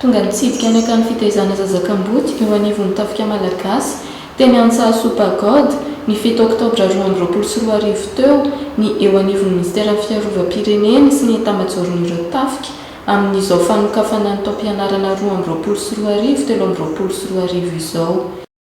Tonga nitsidika ny akany fitaizana zaza kamboty eo anivon'ny tafika malagasy, teny Antsahasoa Pagode, ny fito oktobra roa amby roapolo sy roa arivo teo, ny eo anivon'ny minisiteran'ny Fiarovam-pirenena sy ny etamajaoron'ireo tafika, amin'izao fanokafana ny taom-pianarana roa amby roapolo sy roa arivo telo amby roapolo sy roa arivo izao.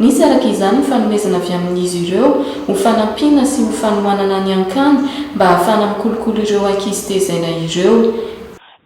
Nisy araka izany ny fanomezana avy amin'izy ireo ho fanampiana sy ho fanohanana ny Ankany mba hahafahana mikolokolo ireo ankizy tezaina ireo.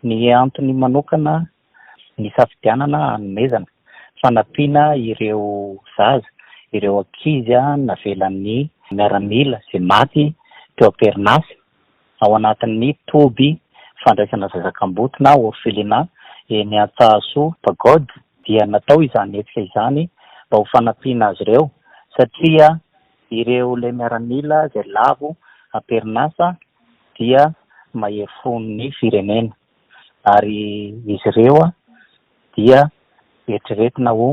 Ny antony manokana nisafidianana hanomezana fanampiana ireo zaza, ireo ankizy navelan'ny miaramila izay maty teo am-perinasa ao anatin'ny toby fandraisana zaza kamboty na orphelinat eny Antsahasoa Pagode dia natao izany hetsika izany mba ho fanampiana azy ireo satria ireo ilay miaramila izay lavo am-perinasa dia mahery fo ny firenena ary izy ireo dia eritreretina ho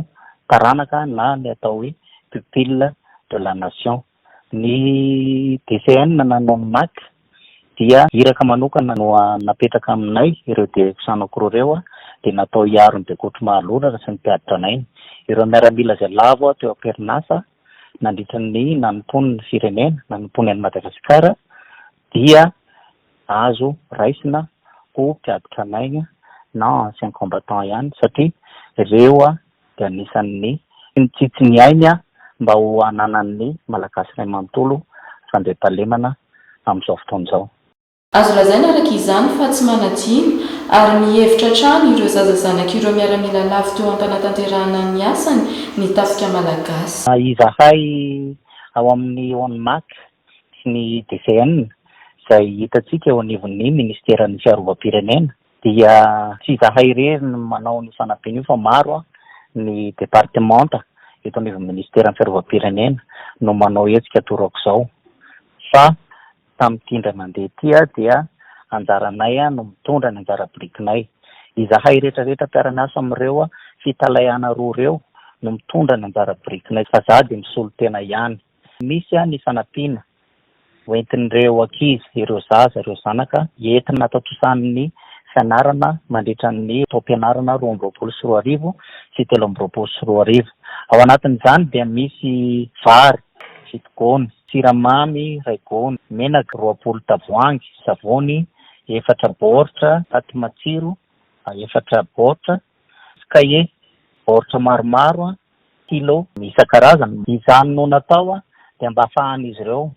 taranaka na ny atao hoe pupille de la nation. Ny DCN na ny ONMAC dia iraka manokana no napetraka aminay ireo dioxanocro ireo dia natao hiaro ny bekotro mahalorana sy ny mpiadi-tranainy. Ireo miaramila izay lavo teo am-perinasa nandritra ny nanompoany ny firenena, nanompoany an'i Madagasikara dia azo raisina ho mpiadi-tranainy na anciens combattants ihany satria ireo dia anisan' ny mitsitsy ny ainy mba ho hananan' ny Malagasy iray manontolo fandriampahalemana amin' izao fotoana izao. Azo lazaina araka izany fa tsy manadino ary mihevitra hatrany ireo zaza zanak' ireo miaramila lavo teo am-panatanterahana ny asany ny Tafika Malagasy. Izahay ao amin' ny ONMAC sy ny DCN, izay hitantsika eo anivon' ny Ministeran' ny Fiarovam-pirenena, Dia tsy izahay irery no manao an'io fanampiana io fa maro ny departemanta eto anivon'ny ministeran'ny fiarovam-pirenena no manao hetsika toa aok'izao. Fa tamin'ity indray mandeha ity dia anjaranay no mitondra ny anjara birikinay. Izahay rehetra rehetra mpiara-miasa amin'ireo fitalaihana roa ireo no mitondra ny anjara birikinay fa za dia misolo tena ihany. Tsy misy ny fanampiana hoentin'ireo ankizy, ireo zaza, ireo zanaka entina hatontosan'ny fianarana mandritra ny taom-pianarana roa amby roapolo sy roa arivo sy telo amby roapolo sy roa arivo. Ao anatin'izany dia misy vary fito gony, siramamy iray gony, menaka roapolo tavoahangy, savony efatra baoritra, paty matsiro efatra baoritra, sy kahie baoritra maromaro stylo isan-karazany. Izany no natao dia mba afahan'izy ireo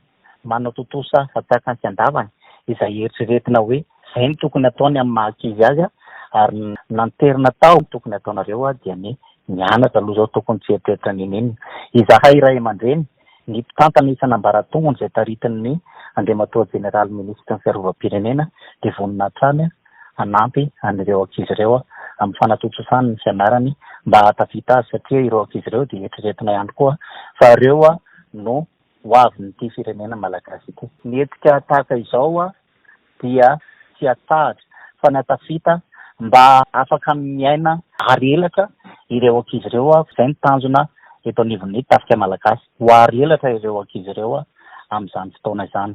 manao tontosa fatsaka an-kiandavany izay eritreretina hoe izay no tokony ataony amin'ny maha ankizy azy ary ny nanterina tao amin'ny tokony ataonareo dia ny mianatra aloha izao tokony tsy hieritreritra n'inon'inona izahay ray aman-dreny. Ny mpitantana isan'ambaratonga izay taritin' ny Andriamatoa Jeneraly Minisitry ny Fiarovam-pirenena dia vonona hatrany hanampy an'ireo ankizy ireo amin'ny fanatontosany ny fianarany mba hahatafita azy satria ireo ankizy ireo dia eritreretina ihany koa fa ireo no ho avin'ity firenena malagasy ity. Ny hetsika tahaka izao dia tsy atsahatra fa na tafita mba afaka miaina ary elatra ireo ankizy ireo ary izay no tanjona eto anivon'ny Tafika Malagasy, ho ary elatra ireo ankizy ireo amin'izany fotoana izany.